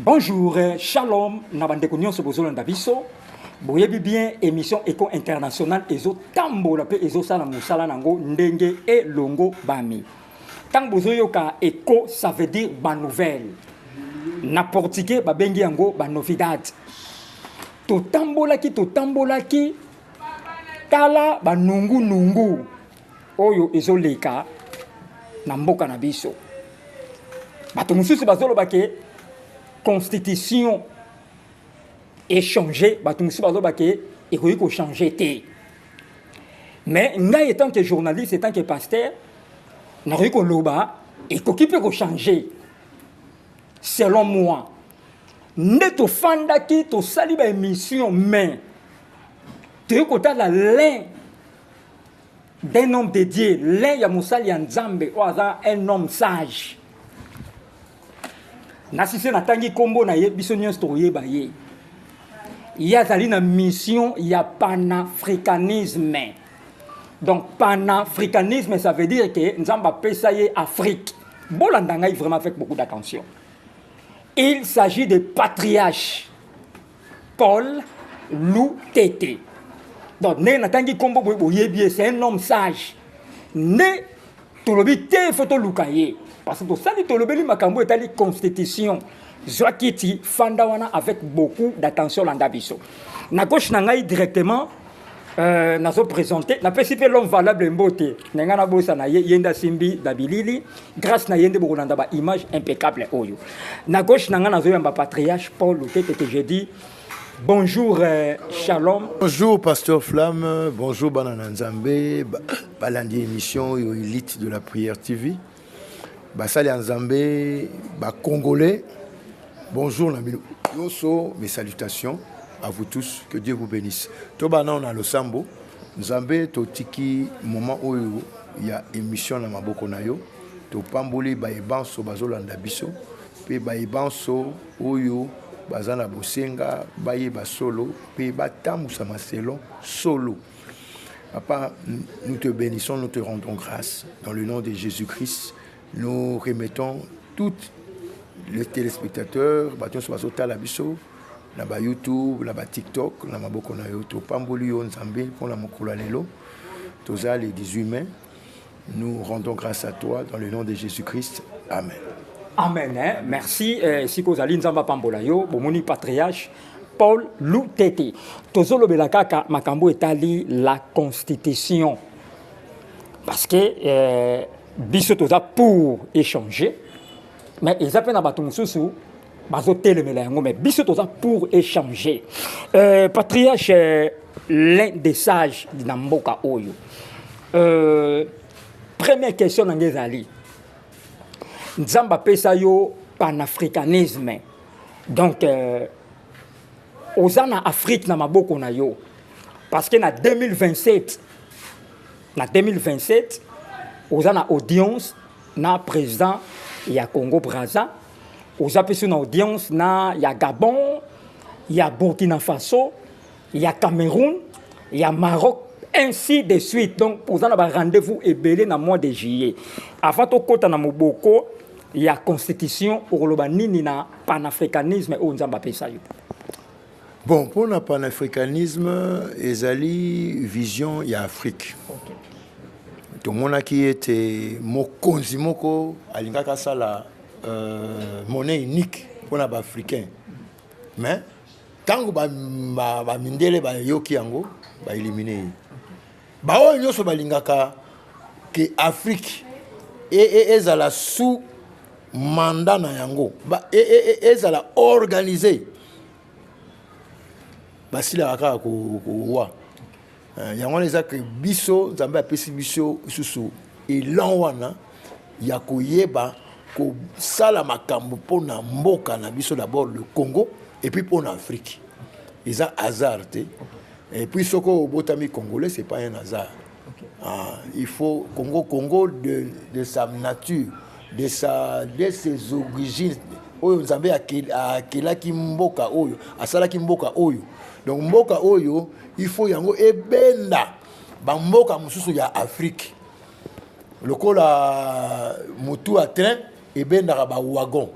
Bonjour, euh, shalom, na bandeko nyonso bozolanda biso. Boyebi bien émission Eco International ezo tambola pe ezo sala musala nango ndenge e longo bami. Tango bozoyoka Eco ça veut dire ba nouvelle. Na portugais babengi yango ba novidade. Totambolaki totambolaki tala ba nungu nungu. oyo ezoleka na mboka na biso bato mosusu bazoloba ke constitution echange bato mosusu bazoloba ke ekoki kochange te mais ngai etant que journaliste etant que pasteur nakoki koloba ekoki mpe kochange selon moi nde tofandaki tosali baémission mais toyei kotala lin d'un homme de Dieu, l'un ya mosali ya Nzambe oyo aza un homme sage. Nasise natangi kombo na ye biso nyonso tokoyeba ye. Ye azali na mission ya panafricanisme. Donc panafricanisme ça veut dire que Nzambe apesa ye Afrique. Bolanda ngai vraiment avec beaucoup d'attention. Il s'agit de patriarches Paul Lutete. Donc ndenge natangi nkombo boye boyebi ye c'est un homme sage nde tolobi te fo toluka ye parce que tosali tolobeli makambo etali constitution zwa kiti fanda wana avec beaucoup d'attention landa biso na gauche na ngai directement Euh, nazo présente napesi mpe l'homme valable mbote na ngai nabosana ye ye nde asimbi na bilili grâce na ye nde bokolanda baimage impeccable oyo na gauche na ngai nazoyamba patriarche paul lutete que je dis bonjour euh, shalom bonjour pasteur flamme bonjour bana na nzambe balandi émission oyo elite de la prière tv basali ya nzambe bacongolais bonjour na bino nyonso mes salutations à vous tous que dieu vous bénisse toba nao na losambo nzambe totiki moment oyo ya émission na maboko na yo topamboli baye banso bazolanda biso mpe baye banso oyo baza na bosenga bayeba solo mpe batambwisama selon solo Papa, nous te bénissons, nous te rendons grâce. Dans le nom de Jésus-Christ, nous remettons tous les téléspectateurs, baton sur bazo tala biso, na ba YouTube, na ba TikTok, na maboko na yo to pamboli yo nzambe pona mokolo lelo. Toza le 18 mai, Nous rendons grâce à toi dans le nom de Jésus-Christ. Amen. Amen. Hein? Merci. Eh, si kozali nzamba pambola yo, bomoni patriarche Paul Lutete. Tozolobela kaka makambo etali la constitution. Parce que eh, biso toza pour échanger, mais eza pe na bato mosusu bazotelemela yango mais biso toza pour échanger euh, patriarche euh, l'un des sages na mboka oyo euh, première question na nge ezali nzambe apesa yo panafricanisme donc euh, oza na afrique na maboko na yo parce que na 2027 na 2027 oza na audience na président ya congo braza oza mpe so na audience na ya gabon ya burkina faso ya cameroun ya maroc ainsi de suite donc oza na barendez-vous ebele na mois de juillet avant tokɔta na moboko ya constitution okoloba nini na panafricanisme oyo nzambe apesa yo bon mpo na panafricanisme ezali vision ya afrique okay. tomonaki ete mokonzi moko alingaki asala euh, monnaie unique mpona ba africain mais ntango bamindele ba, ba bayoki yango baelimine ye baoyo nyonso balingaka ke afrique e, e, ezala e, sous mandat na yango e, e, e, ezala organise basilaka kaka kowa ko, Eh, yango wana eza ke biso nzambe apesi biso lisusu elan wana ya koyeba kosala makambo mpo na mboka na biso d'abord le congo epuis mpo na afrique eza hasard te epuis soki obotami congolais c'est pas un hasard okay. ah, il faut congo congo de, de sa nature de, sa, de ses origines oyo nzambe akelaki mboka oyo asalaki mboka oyo donc mboka oyo il faut yango ebenda bamboka mosusu ya afrique lokola motu ya train ebendaka bawagon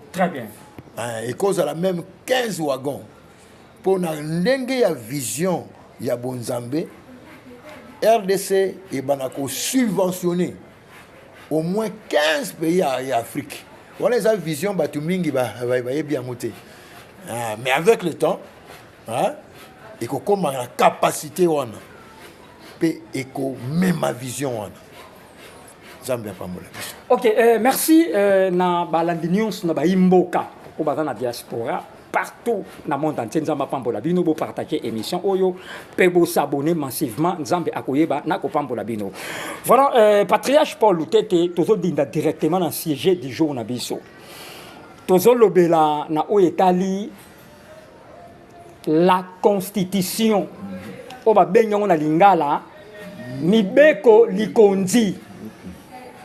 eh, ekozala meme 15 wagon mpo na ndenge ya vision ya bonzambe rdc ebanda kosubventionne au moins 15 pays ya, ya afrique wana eza vision bato mingi bayebi ba, ba, yango te ah, mais avec le temps hein? ekokoma na capacité wana mpe ekomema vision wana nzambe apambola biso ok euh, merci euh, na balandi nyonso na bayimboka oyo baza na diaspora partout na monde entier nzambe apambola bino bopartage émission oyo mpe bosabone massivement nzambe akoyeba na kopambola bino voilà euh, patriarche paul lutete tozodinda directement na sujet du jour na biso tozolobela na oyo etali la constitution oyo babengi yango na lingala mibeko likonzi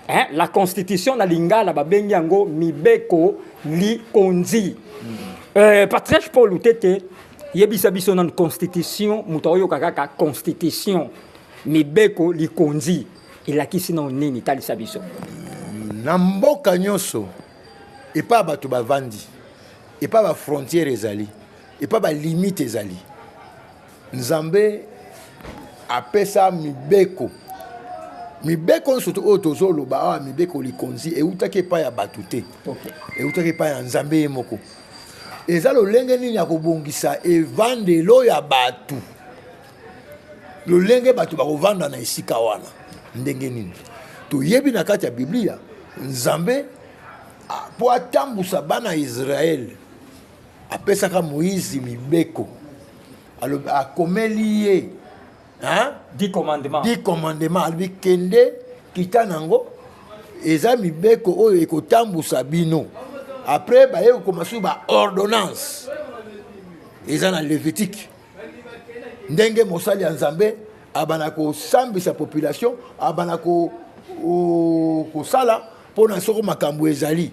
eh, la constitution na lingala babengi yango mibeko likonzi eh, patriarche paul utete yebisa biso nanu constitution moto aoyoka kaka constitution mibeko likonzi elakisi nao nini talisa biso na mboka nyonso epai bato bavandi epa ba frontière ezali epa ba limite ezali nzambe apesa mibeko mibeko nyonso oyo tozoloba awa mibeko likonzi eutaki epai ya bato te eutaki epai ya nzambe ye moko eza lolenge nini ya kobongisa evandelo ya bato lolenge bato bakovanda na esika wana ndenge nini toyebi na kati ya biblia nzambe Ah, mpo atambusa bana ya Israele, apesaka Moize mibeko, akomeli ye di commandement, di commandement, alobi kende kita nango, eza mibeko oyo ekotambusa bino. Après baye kokoma soki ba ordonnance eza na Levitique, ndenge mosali ya Nzambe abana kosambisa population, abana kosala ko, mpo na soko makambo ezali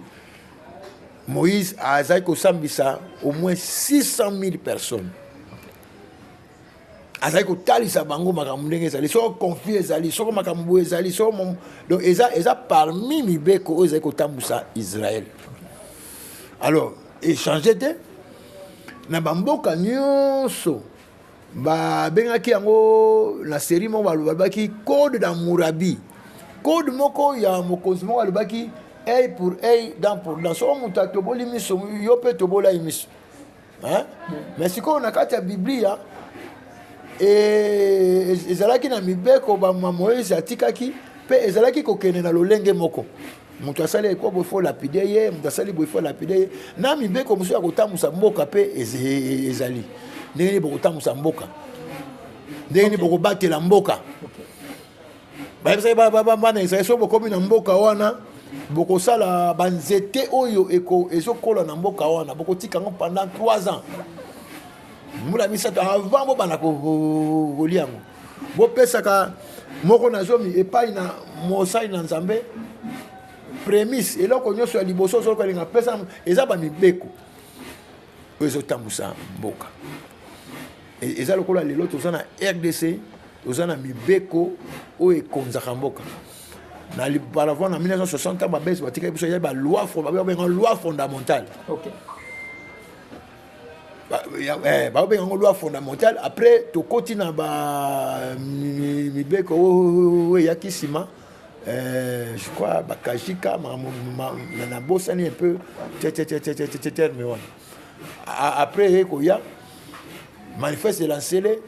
moïse azali kosambisa au moins 600 000 personnes azali kotalisa bango makambo ndenge ezali soko conflit ezali soko makambo boye ezali soko donc eza, eza parmi mibeko oyo ezali kotambusa israel alors echange te na bamboka nyonso babengaki yango na série moko balobaki code na murabi code moko ya mokonzi moko alobaki ei pour ei dan pour dan soko moto atoboli miso yo mpe tobolai miso me sikoyo na kati ya biblia e, e, ezalaki na mibeko bama moïse atikaki mpe ezalaki kokende na lolenge moko moto asali eko boye fo lapide ye moto asali boye fo lapide ye na mibeko mosusu ya kotambwisa mboka mpe ezali ndenge nini bokotambwisa mboka ndenge nini bokobatela mboka bayebisaki bana israel soki bokomi na mboka wana bokosala banzete oyo ezokola na mboka wana bokotika yango pendant 3 ans mbula misato avant bobanda kolia yango bopesaka moko na zomi epai na mosali na nzambe prémisse eloko nyonso ya liboso ozoloka elinga pesa eza bamibeko oyo ezotambusa mboka e, eza lokola lelo toza na rdc toza na mibeko oyo ekonzaka mboka na balavant na 1960 ntango babesi batikaki biso ya baloi babenga loi fondamentale okay. Eh, baobenga yango loi fondamentale après tokoti na bamibeko oyo oh, oh, oh, eyaki nsima eh, je crois bakajika nabosani un peu terme wana après eye koya manifeste elancele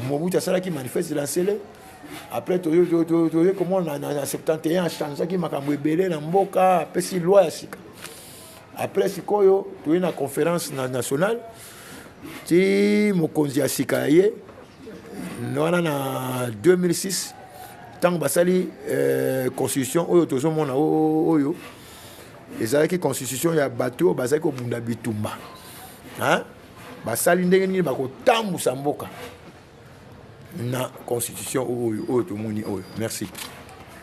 mobutu asalaki manifeste elancele après toye komona na 71 achangeaki makambo ebele na mboka apesi loi ya sika Après sikoyo toye na conference na nationale ti mokonzi ya sika ya ye wana na 2006 ntango basali eh, constitution oyo tozomona oyo ezalaki constitution ya bato oyo bazali kobunda bitumba basali ndenge nini bakotambusa mboka na constitution oyo oyo tomoni oyo merci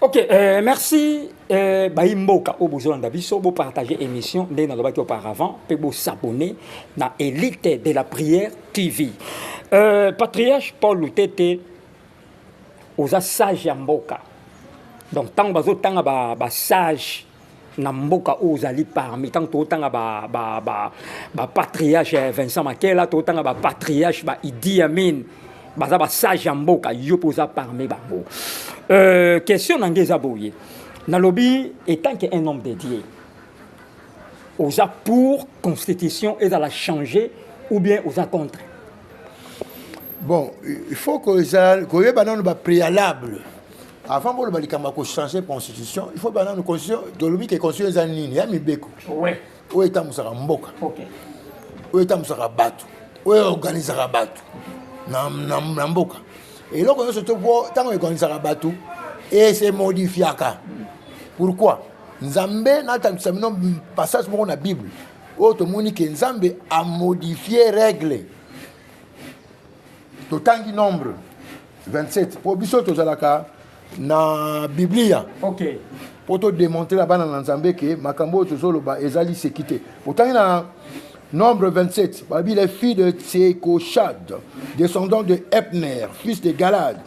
ok euh, merci euh, bayi mboka oyo bozolanda biso bopartage émission ndenge nalobaki auparavant mpe bosabone na élite de la prière tv euh, patriarche paul lutete oza sage ya mboka donc ntango bazotanga basage ba na mboka oyo ozali parmi ntango totanga bapatriarche ba, ba, ba vincent makela totanga bapatriarche ba idi amin baza basage ya mboka yo mpe oza parmi bango euh, question na nge eza boye nalobi etant que un homme de dieu oza pour constitution ezala changer ou bien oza contre bon il faut koyeba nano bapréalable avant boloba likambo ya kochange constitution il faut bana no constitution tolobi ke constitution eza nini ya mibeko oyo etambwisaka mboka oyo etambwisaka bato oyo organisaka bato na mboka eloko nyonso to mpo ntango eorganisaka bato ese modifiaka pourkui nzambe natambwisa bino passage moko na bible oyo tomoni ke nzambe amodifie règle totangi nombre 27 mpo biso tozalaka na biblia okay. mpo todemontre na bana na nzambe ke makambo oyo tozoloba ezali seki te otangi na nombre 27 babi les filles de tsekoshad descendant de epner fils de galade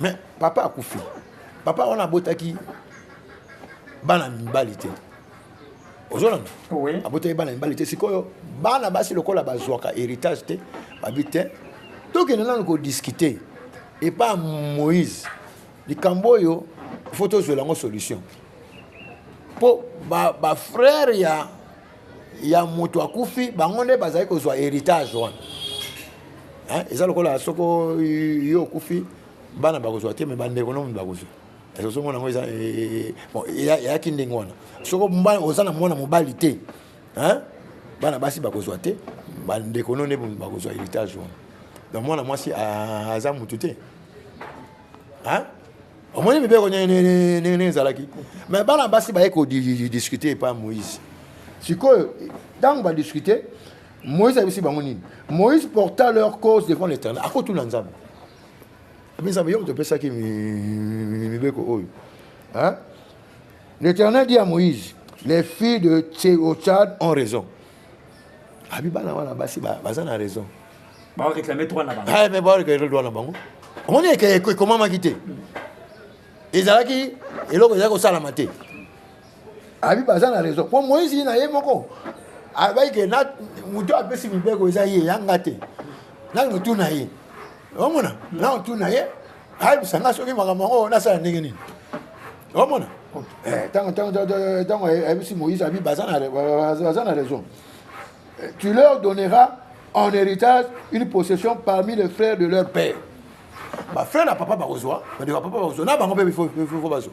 mais papa akufi papa wana abotaki bana mibali te ozolanda oui. abotaki bana mibali te sikoyo bana basi lokola bazwaka héritage te babi te tokende nanu kodiskute epa moïse likambo oyo fo tozwela yango solution mpo bafrère ba ya ya moto akufi bango nde bazali kozwa héritage wana eza lokola soko yo okufi bana bakozwa te me bandeko nomi bakozwa ezozongo nango eza eh, eh, eyaki ndenge wana soko oza na mwana mobali te bana basi bakozwa te bandeko no nde bakozwa héritage wana donc mwana mwasi aza motu te omoni mibeko ndenge ezalaki mais bana basi baye kodiscute epa moïse sikoyo ntango badiscute moïse ayebisi bango nini moïse porta leur cause devant l'éternel akotuna nzambe abi nzambe yo moto opesaki mibeko oyo l'éternel dit à moïse les filles de tseochad ont raison abi bana wana basi baza na raison baoreklame droit na bango eh, baoreklame droit na bango omoni ekomamaki te ezalaki eloko ezalaki kosalama te abi baza na raison mpo moïse ye na ye moko abaki ke moto apesi mibeko eza ye yanga te nani otuna ye omona nani otuna ye ayebisa nga soki makambo yango nasala ndenge nini omona ntango eh, ntango ayebisi moïse abi baza na raison eh, tu leur donneras en héritage une possession parmi les frères de leur père bafrère na papa bakozwa bandeko ya papa bakozwa na bango mpe bifo bazwa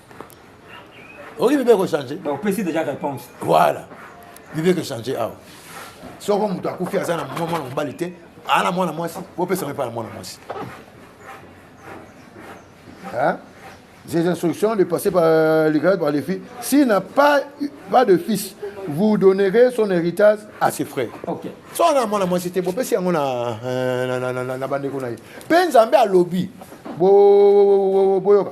okoki bible kochange opesi déjà réponse voilà bible ekochange awa soko moto akufi aza na mwa mwana mobali te aa na mwana mwasi bopesa ngo epai na mwana mwasi Ces instructions de passer par euh, les grades, par les filles. S'il n'a pas, pas de fils, vous donnerez son héritage à ses frères. Ok. So na mwana mwasi te bopesi yango na euh, na na na na bandeko na ye. Mpe Nzambe alobi boyoka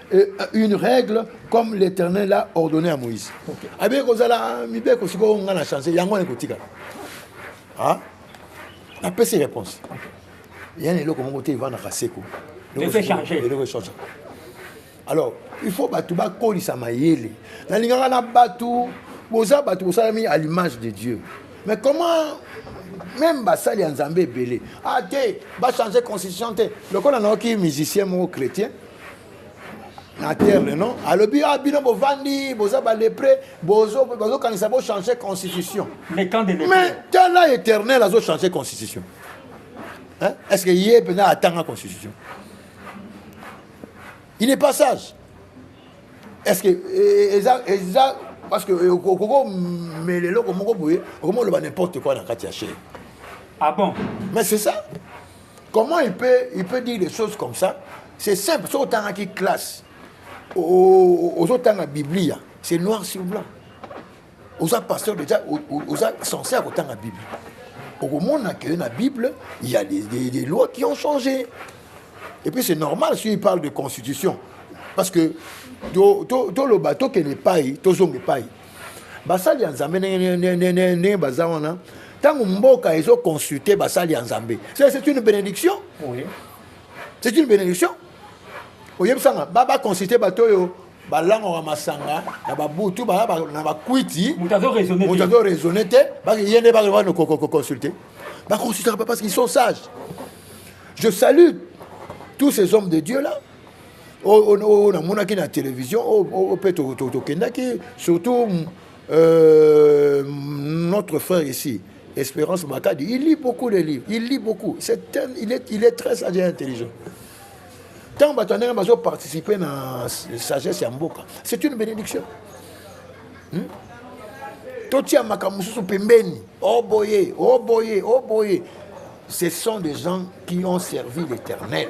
Euh, une règle comme l'éternel a ordonné à moïse abeki kozala mibeko sikoyo ngai na change yango wana ekotikala ah? napesi réponse ya na eloko moko te evandaka seko eloko echange alors il faut bato bakolisa mayele nalingaka na bato boza bato bosalami à l'image de dieu mais comment même basali ya nzambe ebele ah te bachange constitution te lokola nayoki musicien moko chrétien na terme non alobi ah bino bovandi boza balepre bazokanisa bochange constitution mais tala éternel azochange constitution est ce que ye mpenza atanga constitution il n'est pas sage est ce que eh, eza eza parce que eh, okokomela eloko moko boye okomoloba n'importe quoi na kati ya chere ah bon mais c'est ça comment il peut, il peut dire des choses comme ça c'est simple soki otangaki classe ozotanga biblia c'est noir sur blanc oza pasteur déjà oza censé ya kotanga bible okomona que na bible il y a des, des, des lois qui ont changé et puis c'est normal si il parle de constitution parce que toloba tokende epai tozonga epai basali ya nzambe ndenge baza wana ntango mboka ezoconsulte basali ya nzambe c'est une bénédiction c'est une bénédiction oyebisanga baconsulte bato oyo balangaka masanga na babutu na bakwiti moto azo raisonne te ye nde bakoconsulte baconsultaka pas parce qu'ils sont sages je salue tous ces hommes de dieu là oyo namonaki na télévision oyo mpe tokendaki surtout euh, notre frère ici Espérance Makadi, il lit beaucoup les livres, il lit beaucoup. C'est un, il, est, il est très sage et intelligent. Tant que tu as participé à la sagesse ya mboka, c'est une bénédiction. Hmm? totia makambo mosusu pembeni oboye oh oboye oh oboye oh ce sont des gens qui ont servi l'éternel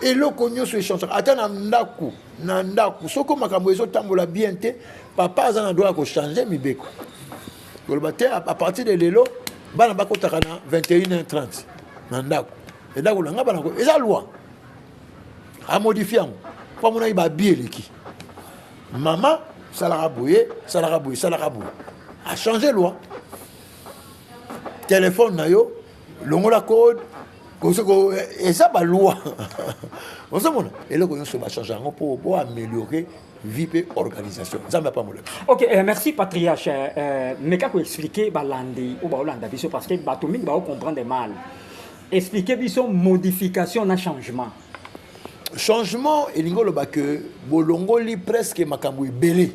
eloko nyonso echangaka ata na ndako na ndako soko makambo ezotambola bien te papa aza na droit ya kochange mibeko koloba te a partir de lelo bana bakotaka na 21 30 na ndako endako na ngai bana eza loi amodifie yango mpo amonaki babie eleki mama salaka boye salaka boye salaka boye achange loi telefone na yo longola code kosoko eza baloi ozomona eloko nyonso bachange yango mpo bo améliorer vie mpe organisation nzambe apambola biso ok euh, merci patriarche euh, euh meka koexplike balandi oyo baolanda biso parce que bato mingi baocomprendre mal explike biso modification na changement changement elingi oloba ke bolongoli presque makambo ebele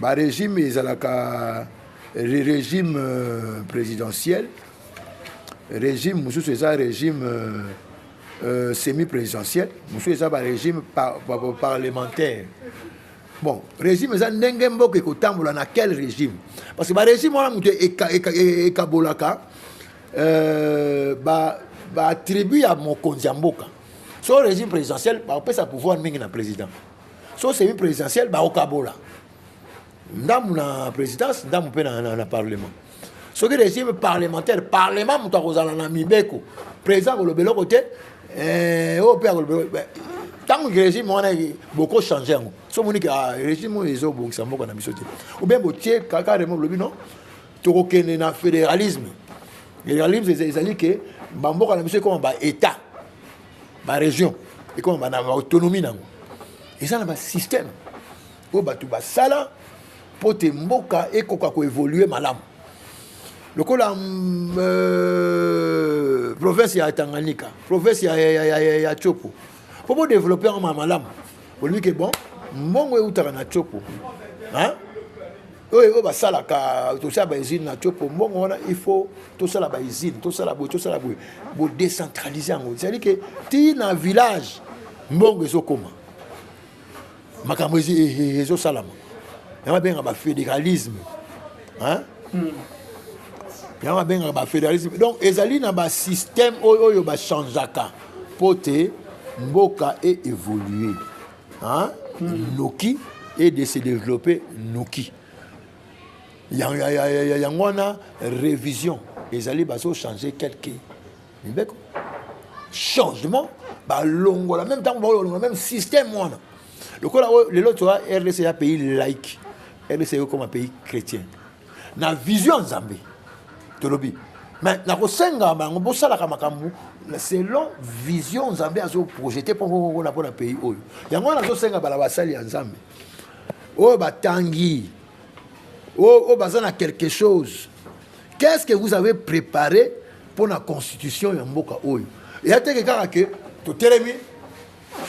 ba regime ezalaka regime euh, présidentiel régime mosusu eza régime euh, euh, semi présidentiel mosusu eza barégime par, par, par, parlementaire bon régime eza ndenge mboka ekotambola na quel régime parce que barégime wana moto ekabolaka euh, baattribut ba ya mokonzi ya mboka so régime présidentiel bakopesa pouvoir mingi na président so semi présidentielle bakokabola ndambu na présidence ndambu mpe na, na, na parlement soki régime parlementaire parlement moto akozala na mibeko président akoloba eloko te eh, oyo mpe akoloba ntango régime wana boko change yango so omoni ke ah, régime oyo ezobongisa mboka na biso te obien botie kaka remo bolobi no tokokende na fédéralisme fédéralisme ezali ke bamboka na biso ekoma baétat ba région ekoma ba na autonomie nango eza na ba système oyo bato basala mpo te mboka ekoka koévolue malamu lokola mm, euh, province ya tanganyika province ya, ya, ya, ya, ya chopo mpo bodeveloppe yango malamu olobi ke bon mbongo eutaka na chopo hein? oyo oyo basalaka tosala bausine na tiopo mbongo wana il faut tosala bausine tosala boye tosala boye bodecentralise yango ezali ke ti na village mbongo ezokoma makambo eh, eh, eh, ezosalama yango abengaka bafédéralisme hmm. yango abengaka bafédéralisme donc ezali na basystème oyo oyo bachangeaka mpo te mboka e évolue hein? mm. noki et de se développer noki yango wana révision ezali bazochanger quelque mibeko changement balongola même ntango bakolongola même système wana lokola lelo toa rdc ya pays like rdc ekokoma pays chrétien na vision ya nzambe tolobi me nakosenga bango bosalaka makambo selon vision nzambe azoprojete mpo kokona mpo na pays oyo yango wana azosenga bala basali ya nzambe oyo batangi oyo baza na quelque chose qu'est ce que vous avez préparé mpo na constitution ya mboka oyo eya teke kaka ke totelemi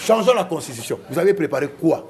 changeons la constitution vous avez préparé quoi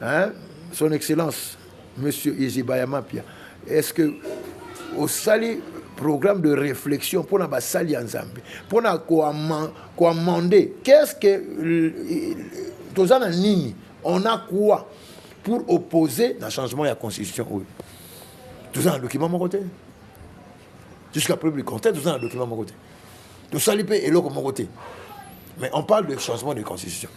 hein son excellence monsieur Izibaya Mapia est-ce que osali programme de réflexion mpona basali ya nzambe mpona koamende qu'est-ce que euh, euh, toza na nini on a quoi pour opposer na changement ya constitution oyo toza na document moko te jusqu'à preuve du contraire toza na document moko te tosali mpe eloko moko te mais on parle de changement de constitution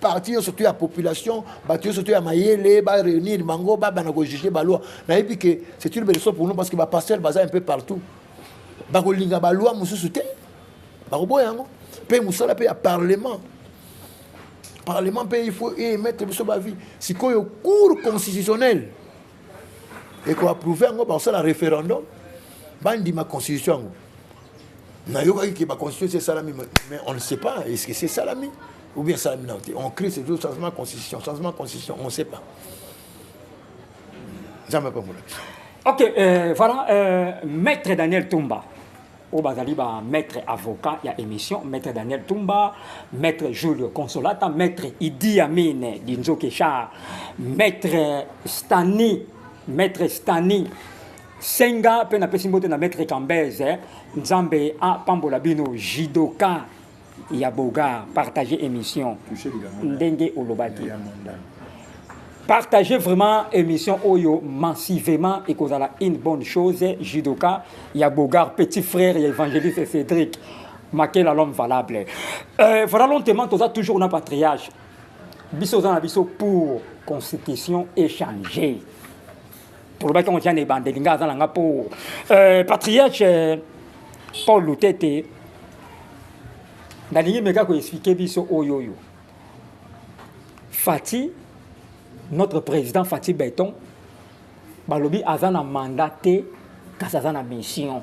parti nyonso to ya population bato nyonso to ya mayele ba réunir bango babanda kojuge baloi nayebi ke c'est une beleso pour nous parce que bapasteur baza un peu partout bakolinga baloi mosusu te bakoboya yango mpe mosala mpe ya parlement parlement mpe il faut emettre biso bavie sikoyo cour constitutionnelle eko approuve yango bakosala référendum bandima constitution yango nayokaki ke baconstitution esalami mais on ne sait pas est ce que c'est salami ou bien salami nao te on crie c'est toujours changement constitution changement constitution on ne sait pas nzambe apambola biso ok euh, voilà euh, maître daniel tumba oyo bazali ba maître avocat ya émission maître daniel tumba maître julio consolata maître idi amine dinzoke char maître stani maître stani senga mpe napesi mbote na maître cambese nzambe apambola bino jidoka ya bogar partage émission ndenge olobaki partage vraiment émission oyo massivement ekozala une bonne chose judoka ya bogar petit frère ya évangéliste cédric makela l'homme valable euh, voilà lentement toza toujours na patriage biso oza na biso pour constitution échanger tolobaki yango tia na ebandeli ngai aza na ngai mpo euh, patriarche euh, paul lutete nalingi meka koexplike biso oyo oyo fati notre président fati beton balobi aza na mandat te kasi aza na mission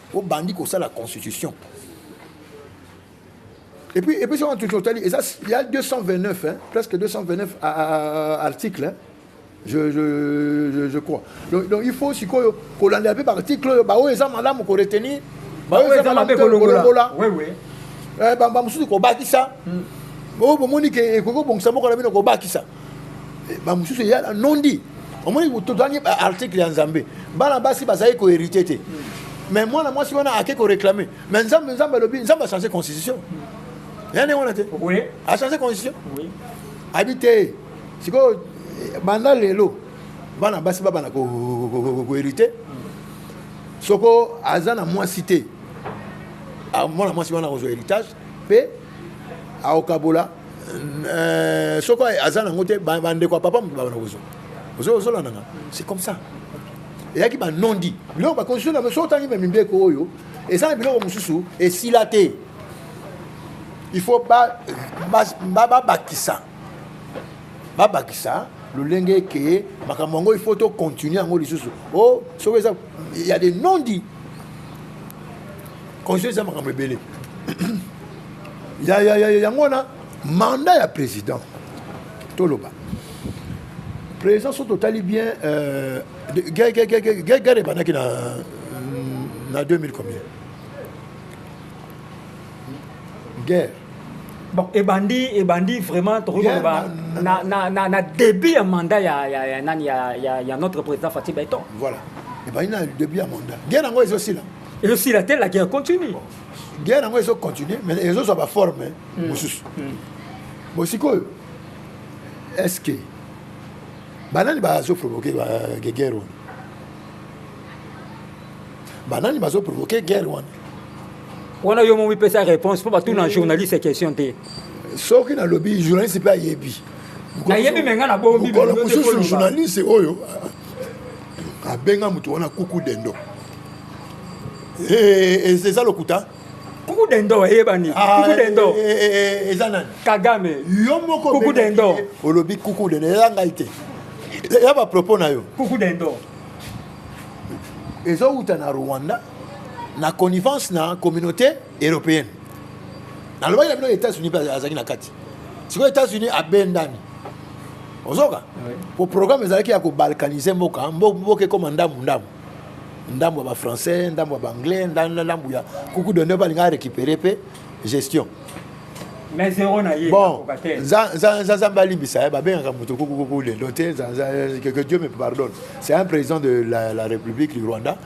obandi kosala constitution et puis et puis soki totali eza ya 229 hein, presque 229 à, à, à, article hein. Je, je, je, je crois donc, donc il faut sikoyo kolanda mpe baarticle oyo baoyo eza malamu koretenir baoyo eza malamu kolongola bamosusu kobakisa oyo bomoni ke ekoki kobongisa moko na bino kobakisa eh, bamosusu eya na nondi omoni tozangi baarticle ya nzambe bana basi bazali koherite te mais mwana mwasi wana ake koréclame mais nzambe nzambe alobi nzambe achange constitution ya ndenge wana te achange constitution abi te sikoyo eh, banda lelo bana basi babana koherite soko aza na mwasi te mwana mwasi wana akozwa héritage mpe aokabola euh, soko aza nango te bandeko ya papa moto babana kozwa ozolanda nga c'est comme ça eyaki banondi biloko bakonstitution na biso otangi me mibeko oyo eza na biloko mosusu esila te il faut babakisa babakisa lolenge ke makambo yango il faut tocontinue yango lisusu o oh, soki eza ya de non dit conseil eza makambo ebele yango wana manda ya président toloba président so totali bien euh, guerre ebandaki na na 2000 combien guerre bon ebandi ebandi vraiment tokoki koloba na, na, na, na début ya mandat ya, ya, ya, nani ya, ya, ya notre président fatih beton voilà ebandi na début ya mandat guerre yango ezosila ezo sila te la guerre continue guerre yango ezo continue mais ezo zwa ba forme eh, mm. mosusu mm. bon sikoyo est ce que banani bazo provoquer ba guerre wana banani bazo provoquer guerre wana wana yo momi pesa réponse mpo batuna mm. journaliste question te soki nalobi journaliste mpe ayebi nayebi me ngai nabombi mokolo mosusu journaliste oyo abenga moto wana kuku dendo eza lokuta kuku dendo eyebani ah, kuku eh, dendo eh, eh, eza nani kagame yo moko kuku dendo olobi kuku dendo eza ngai te ya bapropos na yo kuku dendo ezowuta na rwanda na connivence na communauté européenne nalobaki na bino états-unis mpe azalaki na kati sikoyo états-unis abendani ozoka po programme ezalaki ya kobalkanise mboka mboka ekoma ndambu ndambu ndambu ya bafrançais ndambu ya baanglais ndambu ya kuku donde balinga arécupere mpe gestion mais zero na ye bon nzambe alimbisa ye babengaka moto kukukuku lelo te que dieu me pardonne c'est un président de la, la république du rwanda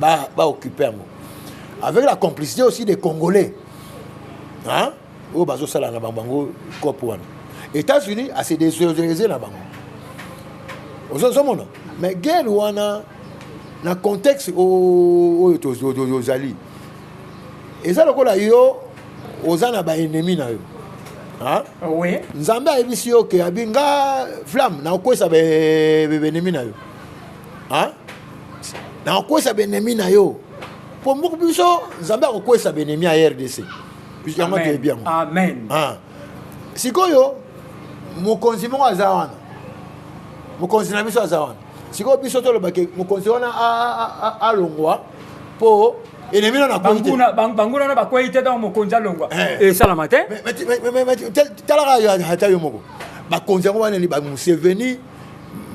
ba ba occuper yango avec la complicité aussi des congolais hein oyo bazosala na bango bango cop wana états-unis ase désolariser na bango ozomona mais guerre wana na contexte oyo tozali eza lokola yo oza na baennemi na yo ah, nzambe ayebisi yo ke abi nga flamme nakokwesa baennemi na yo nakokwesa benemi na yo mpo mboka biso nzambe akokwesa benemi ya rdc yango toyebi yango amen ah. sikoyo mokonzi moko aza wana mokonzi na biso aza wana sikoyo biso tolobake mokonzi wana alongwa mpo enemi na nakwebanguna na bakwei te ntango mokonzi alongwa eh. esalama te talaka ata yo moko bakonzi yango wana ni bamuseveni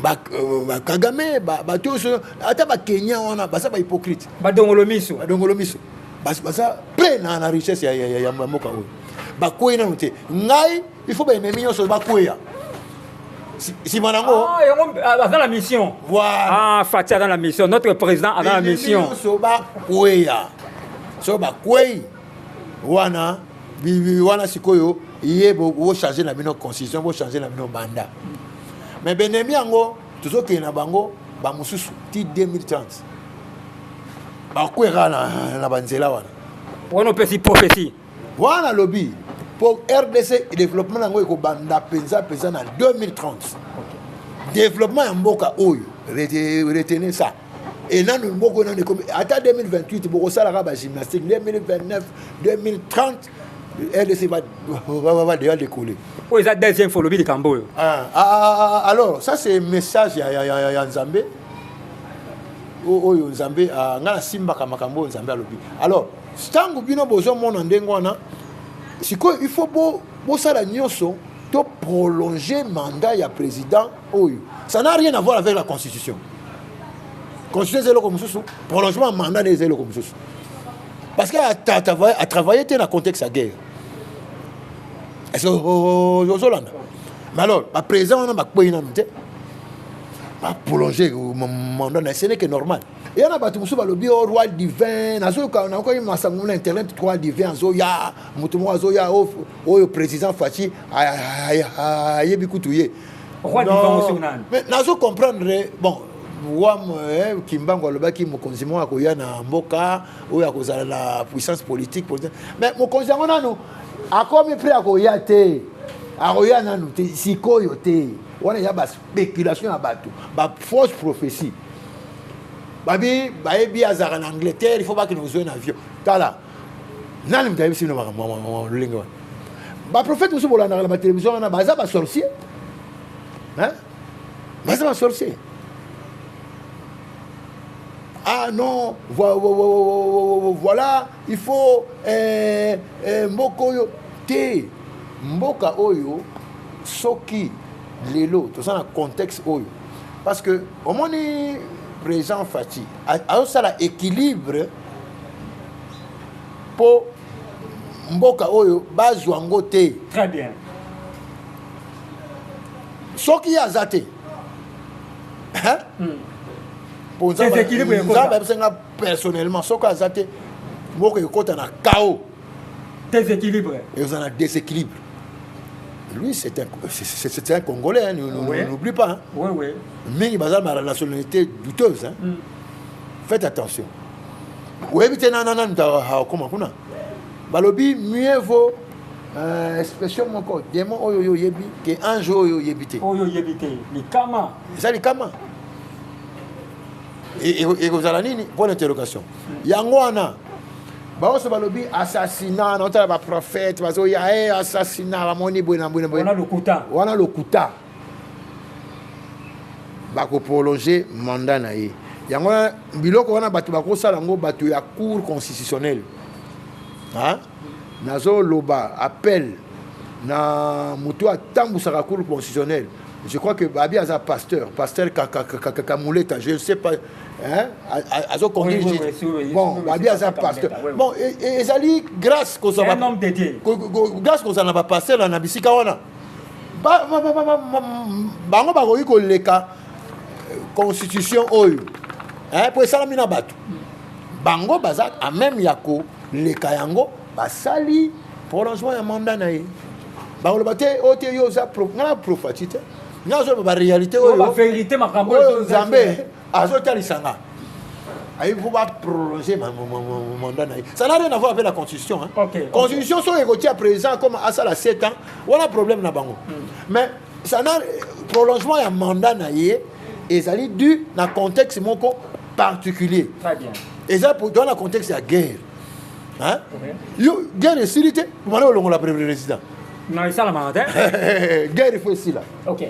ba, euh, ba kagame bato nyonso ata bakenya wana baza bahypocrite badongolo miso badongolo miso baza pre na, na richesse ya, ya, ya, ya mboka oyo bakwei nano te ngai il faut baennemi nyonso bakweya nsima na yango ah, yango ah, aza na mission voilà ah, fati aza na mission notre président aza na mission nyonso bakweya so bakwei wana bibi wana sikoyo ye bochange na bino constitution bochange na bino banda mais benemi yango tozokende na bango bamosusu ti 2030 bakwera na, na banzela wana wana opesi prophetie wana lobi mpo rdc développement yango ekobanda mpenza mpenza na 2030 développement ya mboka oyo retenez ça et nanu moko nanu ekomi ata 2028 bokosalaka bagymnastique 2029 2030 rdc va déjà décoller oyo eza deuxième fois olobi likambo oyo ah, ah, ah, alors ça c'est message ya, ya, ya, ya nzambe oyo nzambe ngai nasimbaka makambo oyo nzambe alobi alors ntango bino bozomona ndenge wana sikoyo il faut bosala nyonso to prolonger mandat ya président oyo ça n'a rien à voir avec la constitution constitution eza eloko mosusu prolongement ya mandat nde eza eloko mosusu parce que atravaille te na contexte ya guerre est-ce que ozolanda mais alors baprésident wana bakwei nanu te baprolonge mandat na eseneke normal eya na bato mosusu balobi o oh, roi divin nazoyoka nakoki masango na internet roi divin azoya moto moko azoya oh, oyo président faci ayebi kutu ye roi diva ngo soki nani mais nazo comprendre bon wam eh, kimbangu alobaki mokonzi moko akoya na mboka oyo akozala na puissance politique mais mokonzi yango nanu akomi mpe akoya te akoya nanu te sikoyo te wana eza baspéculation ya bato bafausse prophétie babi bayebi azalaka na angleterre il faut bakende kozwa na avion tala nani moto ayebisi bino makambo lolenge wana baprofete mosusu bolandaka na batelevizio wana baza basorcier baza basorcier ah non voilà il faut eh, eh, mboka oyo te mboka oyo soki lelo toza na contexte oyo parce que omoni président fati azosala équilibre mpo mboka oyo bazwa yango te très bien soki ye aza te mpo nzambe ayebisa nga personnellement soki aza te mboka ekota na chaos déséquilibre eza na déséquilibre lui c'est un, c'est un congolais hein, n'oublie pas hein. oui, oui. mingi baza na nationalité douteuse hein. mm. faites attention oyebi te nana nanu akoma kuna balobi mieux vaut euh, expression moko démon oyo yo oyebi ke ange oyo oyebi te oyo oyebi te likama eza likama ekozala nini point d'interrogation yango wana baoso balobi assassinat naotala baprofete bazoya e eh, assassinat bamoni boye na boye na boye wana lokuta bako prolonger mandat na ye yango wana biloko wana bato bakosala yango bato ya cour constitutionnelle nazoloba appel na moto atambusaka cour constitutionnelle je crois que babi aza pasteur pasteur kakamuleta je ne sais pas azo conduire bon babi aza pasteur bon ezali grâce kozala grâce kozala na bapasteur na bisika wana bango bakoki koleka euh, constitution oyo mpo esalami na bato bango baza a meme ya koleka yango basali prolongement ya manda na ye bakoloba te oyo te yo oza ngai na profati te ngai nazoloba baréalité oyo nzambe azotalisa nga ayebi mpo baprolonge mandat na ye ça n'a rien avoir avec la constitution hein. okay, constitution okay. soki ekotia président comme asala 7 ans wana problème na bango mm. mais ça na prolongement ya mandat na ye ezali dû na contexte moko particulier Très bien. eza dans na contexte ya guerre hein? okay. yo guerre esili te omana olongola président non esalamaka te guerre ifo esila okay.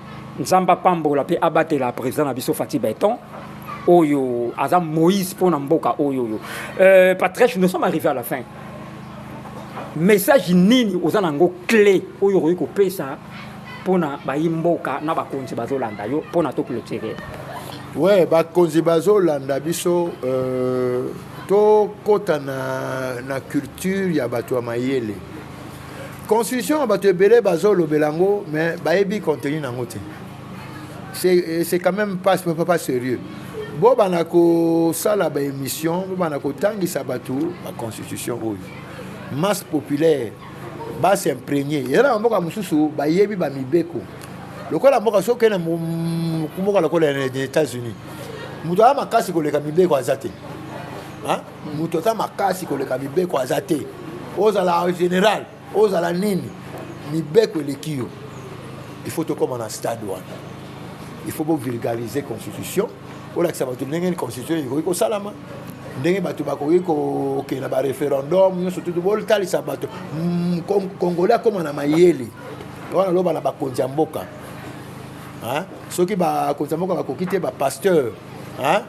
Nzambe apambola pe abatela president na biso Fatih Beton oyo aza Moïse pona mboka oyo oyo. Euh, Patrice, nous sommes arrivés à la fin. Message nini oza nango clé oyo okoki kopesa pona bayi mboka na bakonzi bazolanda yo pona to clôturer. Ouais, bakonzi bazolanda biso euh, tokota na, na culture ya bato ya mayele constitution bato ebele bazolobela yango mais bayebi contenu na yango te euh, c'est quand même pas, pas sérieux bobana kosala baémission bobana kotangisa bato baconstitution oyo masse populaire basimprenie eza na bamboka mosusu bayebi bamibeko lokola mboka soki okende mboka lokola na états-unis moto aya makasi koleka mibeko aza te moto aza makasi koleka mibeko aza te ozala général ozala nini mibeko eleki yo il faut tokóma na stade wana il faut bovulgarize constitution olakisa bato ndenge ni constitution ekoki kosalama ndenge bato bakoki kokende na bareferendum nyonso tutu botalisa bato mm, congolais akóma na mayele wana loba na bakonzi ya mboka soki bakonzi ya mboka bakoki te bapasteur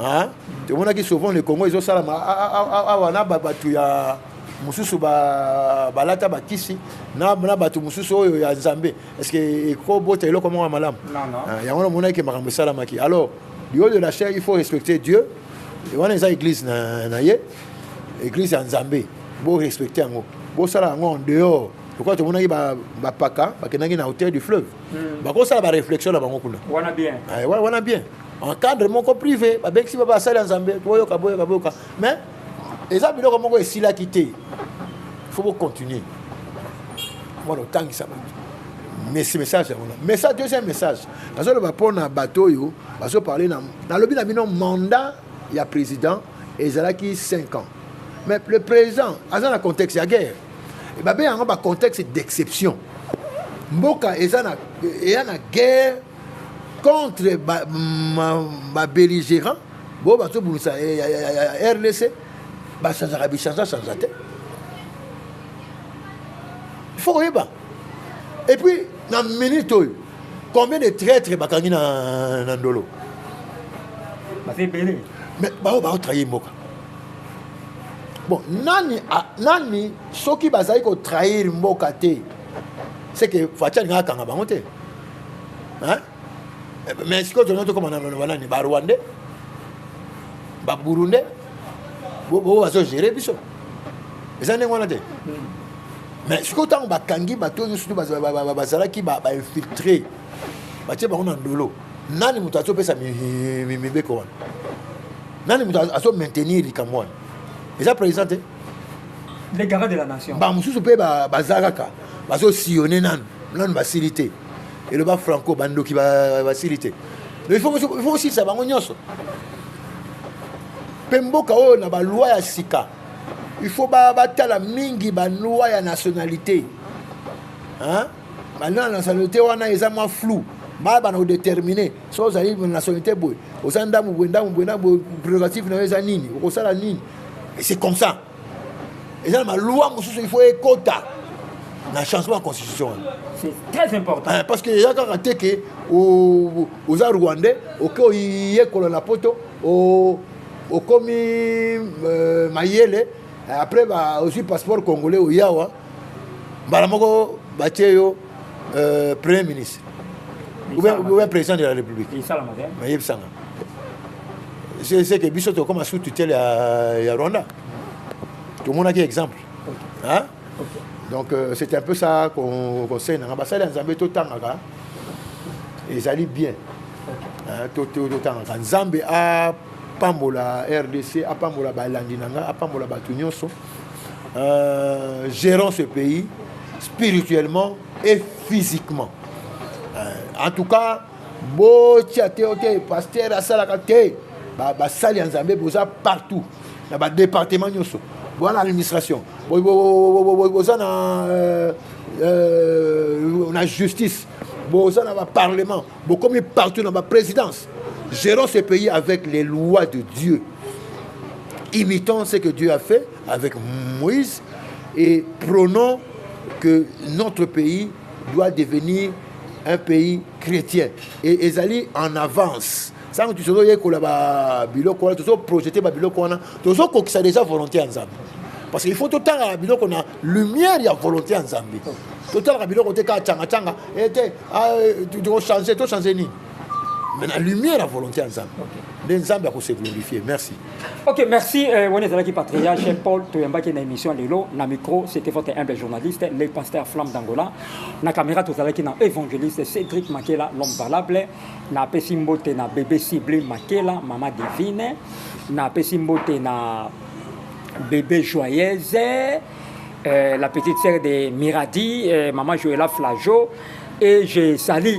hein tomonaki souvent le Congo ezo sala awa na batu ya mususu ba balata ba kisi na na batu mususu oyo ya Nzambe est-ce que eko bota eloko moko malamu ah, yango na monaki makambo esalamaki alors du haut de la chair il faut respecter Dieu et wana eza église na na ye église ya Nzambe bo respecter yango bo sala yango en dehors lokola tomonaki bapaka bakendaki na hauteur du fleuve hmm. bakosala baréflexion na bango kuna wana bien eh, wana bien en cadre moko privé babengisi ba basali ya nzambe boyoka boyoka boyoka mais eza biloko moko esilaki te faut bocontinue mwana otangisa bato mesi message yango message deuxième message nazoloba mpo na bato oyo bazoparle na nalobi na bino mandat ya président ezalaki 5 ans mais le président aza na contexte ya guerre babe yango ba contexte d'exception mboka eza na eya na guerre contre ba, ma, ba belligérant bo bazobundisa eh, ya, ya, ya, ya rdc bachangeaka bichange change te faut koyeba et puis na minute oyo combien de traitre bakangi na, na ndolo baza ebele mais baoyo baotrahi mboka bon nani, a, nani soki bazali kotrahir mboka te seke faci alingaka akanga bango te hein? mais sikoyo tono tokoma na baloba nani barwandais baburundais bobo bazogere biso eza ndenge wana te mais sikoyo ntango bakangi bato oyo nyonso bazalaki bainfiltre batie bango na ndolo nani moto azopesa mibeko wana nani moto azo maintenir likambo wana eza président te bamosusu mpe baza kaka bazosillone nanu nanu basili te eloba franco bandoki basili te mais il faut osilisa bango nyonso mpe mboka oyo na balwa ya sika il faut batala mingi balwa ya nationalité balwa ya nationalité wana eza mwa flou bayebana kodetermine so ozali nationalité boye oza ndambo boye ndambo boye ndambo boye prérogative na yo eza nini okosala nini c'est comme ça eza na baloi mosusu il faut ekota na changement ya constitution wana C'est très important. Eh, parce que eza kaka te ke o- oza rwandais oke oyekola na poto o- okomi euh, mayele après ba- ozwi passeport congolais oyawa mbala moko batie yo euh, premier ministre oubien président de la république mayebisanga seke biso tokoma sous tutelle ya rwanda tomonaki exemple hein? donc euh, c'est un peu ça conseil nanga basali ya nzambe totangaka ezali bien totangaka nzambe apambola rdc apambola balandi na nga apambola bato nyonso euh, gérant ce pays spirituellement et physiquement euh, en tout cas botia te ote pasteur asalaka te basali ya nzambe boza partout na badepartement nyonso boza na administration boza na euh, euh, na justice boza na baparlement bokomi partout na baprésidence gérons ce pays avec les lois de dieu imitons ce que dieu a fait avec moïse et prônons que notre pays doit devenir un pays chrétien et ezali en avance ntango tozoyekola babiloko wana tozoprojete babiloko wana tozokokisa deja volonté ya nzambe parce qu'il faut totalaka biloko na lumière ya volonté ya nzambe totalaka biloko te kaka cangacanga ete eh, ah, euh, tokochange tochange nini mais na lumière ya volonté ya nzambe nde nzambe akose glorifie merci ok merci euh, wana ezalaki patriarche paul toyambaki na émission lelo na micro c'était votre humble journaliste le pasteur flamme d'angola na caméra tozalaki na évangéliste cédric makela l'homme valable napesi mbote na bébé cible makela mama divine napesi mbote na bébé joyeuse euh, la petite sœur de Miradi, euh, maman Joëla Flageau, et je salue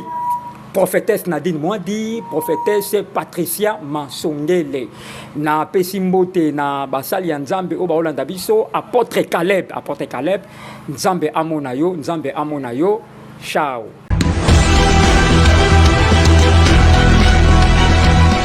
prophétesse Nadine Mwadi, prophétesse Patricia Mansongele. Na Pesimbote, na Basali ya Nzambe, Oba Olanda Biso, apôtre Caleb, apôtre Caleb, Nzambe Amona yo, Nzambe Amona yo, ciao.